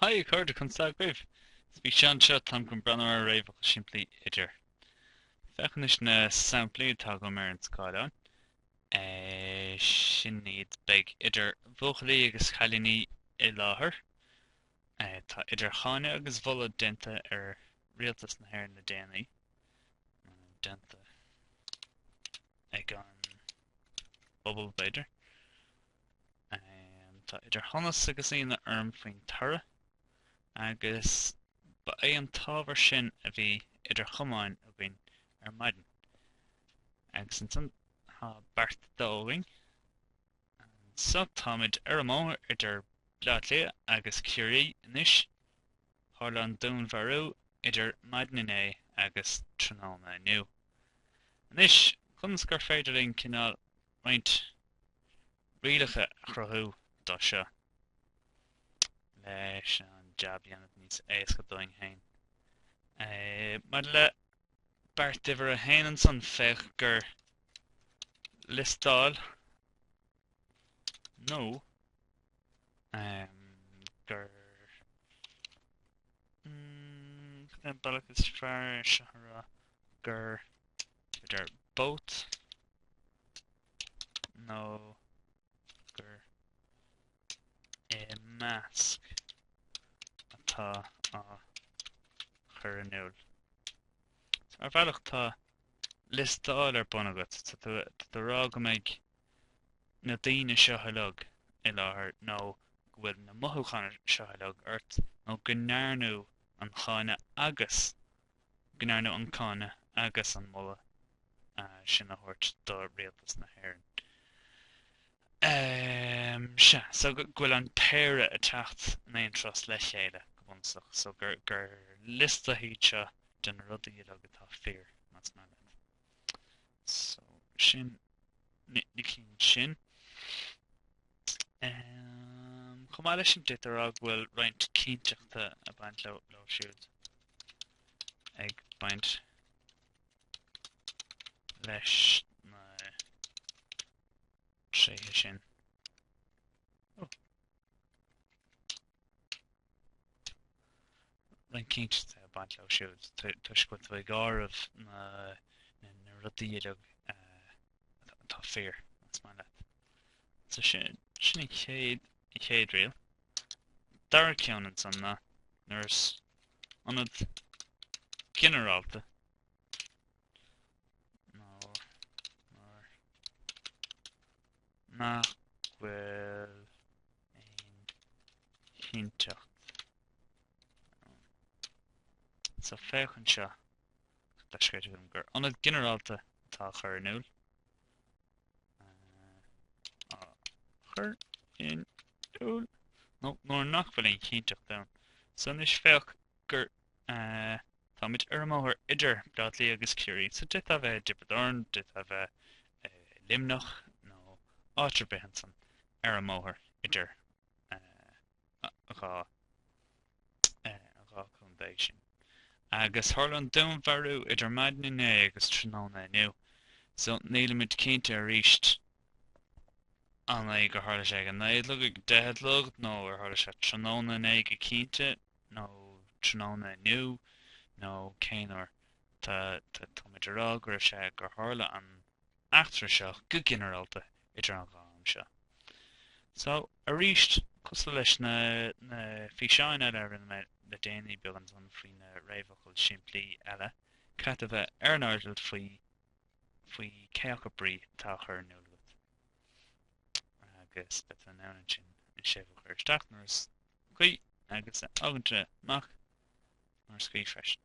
Haigh a chairde conas tá agaibh! Sa físeán seo táim chun breathnú ar an réamhfhocal simplí idir. Féach anois na samplaí atá agam ar an scáileán. É sin iad beidh idir bhuachaillí agus chailíní i láthair. É tá idir cháineadh agus mholadh déanta ar rialtas na hÉireann le déanaí. Déanta ag an. bpobal b'fhéidir. Tá idir shonas agus ionadh orm faoin toradh, agus ba é an t-ábhar sin a bhí idir chamáin againn ar maidin. Agus ansan tá beart dó againn. Anso táimid ar an mbóthar idir Bleá Cliath agus Ciarraí anois. Tharla an dúnmharú idir maidin inné agus tráthnóna inniu. Anois, conas gur féidir linn cineál roinnt rialacha a chruthú do seo leis an jab a dhéanamh níos éasca dúinn féin? Maidir le beart uimhir a haon ansan, féach gur liostáil nó gurb é an bealach is fearr é seo a rá gur b'fhéidir both nó gur i measc atá á chur in iúl. Ar bhealach tá liostáil ar bun agat, tá tú ag rá go mbeidh na daoine seo uilig i láthair nó go bhfuil na mothúcháin seo uilig ort nó go ndearnadh an cháineadh agus go ndearnadh an cáineadh agus an moladh sin a thabhairt do Rialtas na hÉireann. Sea, so go bhfuil an péire ag teacht in aon turas le chéile go bunúsach, so gur liostaí iad seo de na rudaí uilig atá fíor, más maith leat. So sin na cinn sin. Um, chomh maith leis sin d'fhéadfá a rá go bhfuil roinnt cinnteachta ag baint leo, leo siúd ag baint leis na tréithe sin. Oh. roinnt cinnteachta ag baint leo siúd toisc go bhfuil tú ag áireamh na rudaí uilig atá fíor más maith leat. So sin an chéad, an chéad riail. Dara ceann ansan ná nuair is ionad ginearálta Mar nach bhfuil aon chinnteacht ann so féach anseo, tá sé ceart agam gur ionad ginearálta atá á chur in iúl, á chur in iúl, nó nuair nach bhfuil aon chinnteacht ann anois féach gur a. Táimid ar an mbóthar idir Bleá Cliath agus Ciarraí so d'fhéadfadh a bheith i dTiobraid Árann, d'fhéadfadh a bheith i Luimneach nó áit ar bith ansan ar an mbóthar idir an dhá contae sin. Agus tharla an dúnmharú idir maidin inné agus tráthnóna inniu so nílimid cinnte arís an é gur tharla sé ag a naoi a chlog, ag a deich a chlog nó ar tharla sé tráthnóna inné go cinnte. nó tráthnóna inniu nó cén uair. Tá táimid a rá go raibh sé gur tharla an t-eachtra seo go ginearálta idir an dhá am seo. So, arís, cosúil leis na na físeáin eile a rinne mé le déanaí beagán faoi na réamhfhocail simplí eile, caithfidh tú a bheith ar an airdeall faoi faoi cé acu brí atá á chur in iúl agat. agus beidh tú in ann ansin an séimhiú a chur isteach nuair is cuí agus a fhágaint amach nuair is cuí freisin.